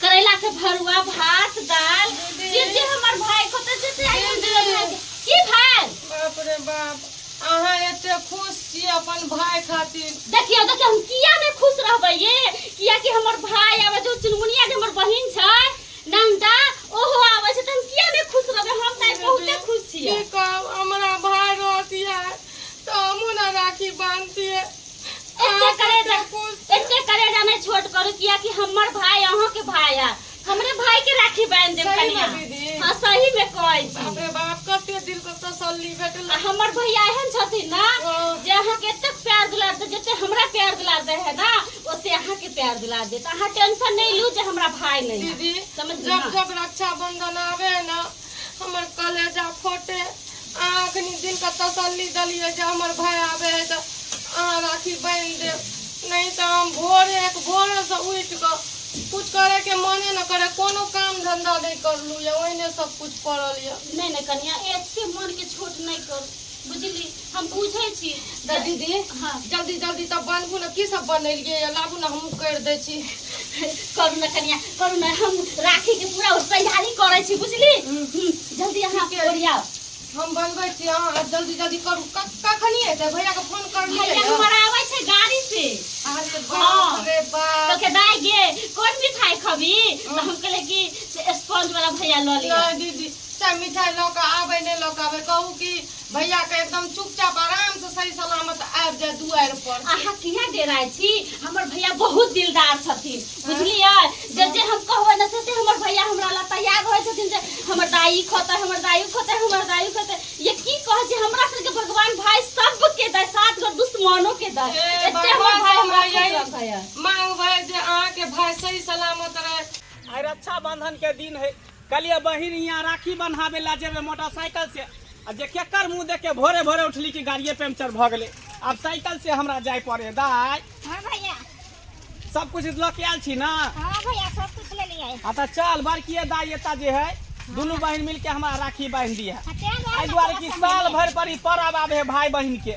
करैला के भरुआ भात दाल जे जे हमर भाई कतऽ से से आइटम देलक भाई के? की भाई बाप रे बाप अहाँ एते खुश छी अपन भाय खातिर देखियो देखियो हम किया ने खुश रहबै ये किया कि हमर भाई आबै जो चुनमुनिया जे हमर बहिन छै नंदा ओहो आबै छै त हम किया ने खुश रहबै हम तऽ आइ बहुते खुश छियै की कहब हमरा भाय रहतियै तऽ हमहूँ ने राखी बांधतियै एते करेजा एते करेजा में छोट करू किया कि हमर भाई अहाँ के भाई है हमरे भाई के राखी बांध देब सही कनिया में दीदी। हां सही में कहै छी बाप रे बाप कते दिल के तसल्ली भेटल आ हमर भैया एहन छथिन ना हँ। जे अहाँ के एते प्यार दुलार दे जते हमरा प्यार दुलार दे है ना ओते अहाँ के प्यार दुलार देत अहाँ टेंशन नहीं लू जे हमरा भाई नहीं है। दीदी समझ जब ना जब रक्षाबंधन आवे है ना हमर कलेजा फोटे अहाँ अखन दिनके तसल्ली देलियै जे हमर भाय आबे है तऽ अहाँ राखी बान्हि देब नहि तऽ हम भोरे एक भोरेसँ उठि कऽ कुछ करैके मने न करे कोनो काम धंधा नहि करलू यऽ ओहिने सब कुछ पड़ल यऽ नहि नहि कनिया एते मन के छोट नहि करू बुझली हम बुझै छी तऽ दीदी हँ। जल्दी जल्दी तऽ बनबू ने की सब बनेलियै या लाबू ने हमहूँ करि दै छी करू ने कनिया करू ने हम राखी के पूरा तैयारी करै छी बुझली हम्म, जल्दी अहाँ ठीके। ओरियाओ हम बनबै छी अहाँ आब जल्दी जल्दी करू क- कखनी एतै भैयाके फोन करलियै भैया ने हमर आबै छै गाड़ी से अहाँके हँ। बाप रे बाप तो के दाई गे कोन मिठाई खबी तो हम कहले कि स्पॉन्ज वाला भैया लऽ लिया नहीं दीदी चाहे मिठाइ लऽ कऽ आबै नहि लऽ कऽ आबै कहू कि भैया के एकदम चुपचाप आराम से सही सलामत आबि जाए दुआर पर अहाँ किया डेराय छी हमर भैया बहुत दिलदार छथिन बुझलियै जे जे हम कहबै ने से से हमर भैया हमरा लए तैयार रहै छथिन जे हमर दाई खोतै हमर दाई खोतै हमर दाई खोतै ये की कहै छै हमरा सबके भगवान भाई सबके दै साथ गो दुश्मनो के दै ए, एते हमर भगवान भाई हमरा हमरा खुश यही- रखै है मांगबै जे अहाँ के भाई सही सलामत रहे आइ रक्षाबंधन के दिन है कहलियै बहिन हियाँ राखी बन्हाबै लए जेबै मोटरसाइकिल से आ जे केकर मुँह देख के भोरे भोरे उठली कि गाड़िए पंचर भऽ गेलै आब साइकिल से हमरा जाय पड़े दाय हाँ भैया सब कुछ लऽ के आयल छी ने हाँ भैया सब कुछ ले लिया हाँ तऽ चल बड़किए दाय एता जे है दुनू बहिन मिलके हमरा राखी बांधि दी है एहि दुआरे कि साल भरि पर ई पर्व आबे है भाय बहिन के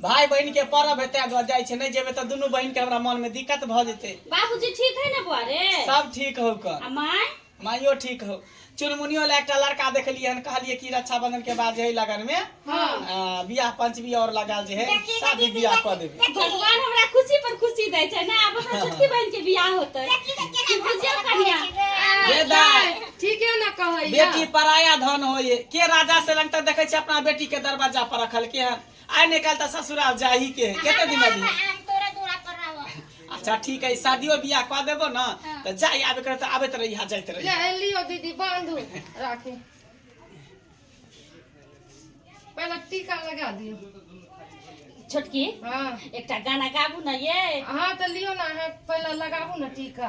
भाय बहन के पर्व हेतै घर जाइ छै नहि जेबै तऽ दुनू बहन के हमरा मन में दिक्कत भऽ जेतै बाबूजी ठीक है ना बुआ रे सब ठीक हौ कऽ आ माय माइयो ठीक हौ चुनमुनियो ला एकटा लड़का देखलियै हन कहलियै कि रक्षाबंधन के बाद जे है लगन में हाँ। आ, बियाह पंचमी और लगाल जे है शादी बियाह कऽ देबै भगवान हमरा खुशी पर खुशी दै छै ना आब हमरा छोटकी बहन के बियाह होतै बुझियो कन्या ये दाय ठीके न कहैया बेटी पराया धन होय के राजा से लंग तक देखै छै अपना बेटी के दरवाजा पर रखल के हन आइ ने काल्हि तऽ ससुराल जाही के है कते दिन अभी हम तोरा दूरा पर रहब अच्छा ठीक है शादियो बियाह कऽ देबो ने तऽ जाय आबे करे तऽ आबैत रही यहाँ जाइत रही ले लियो दीदी बांधू राखी पहले टीका लगा दियो छोटकी हाँ एकटा गाना गाबू ने ये हाँ तो लियो ना हाँ पहले लगाबू ना टीका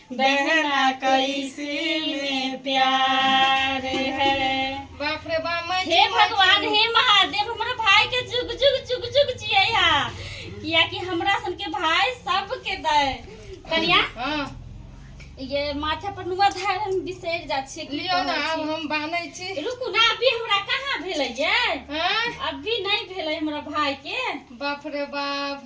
बहना कैसे में प्यार है बाप रे बाप मैं हे भगवान हे महादेव हमरा भाई के जुग जुग जुग जुग जियै हा किया कि हमरा सन के भाई सब के दे कनिया हाँ ये माथा पर नुआ धार हम बिसरि जा छियै की लियो ना कहै आब छी। हम बानै छी रुकू ना अभी हमरा कहाँ भेलै ये हाँ अभी नहीं भेलै हमरा भाई के बाप रे बाप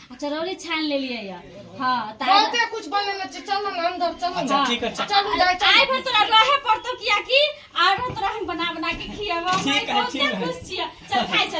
चरौरी छानि लेलियै या हाँ तऽ आइ- बहुते कुछ बनेने छै चल ने अंदर चल अच्छा ने ठीक अच्छा चलू दाय चल आइ भर तोरा रहे पड़तौ कियाकि आइ भर तोरा हम बना बना के खियाबो ठीक है, ठीक है। खुश छियै चल खाइ चल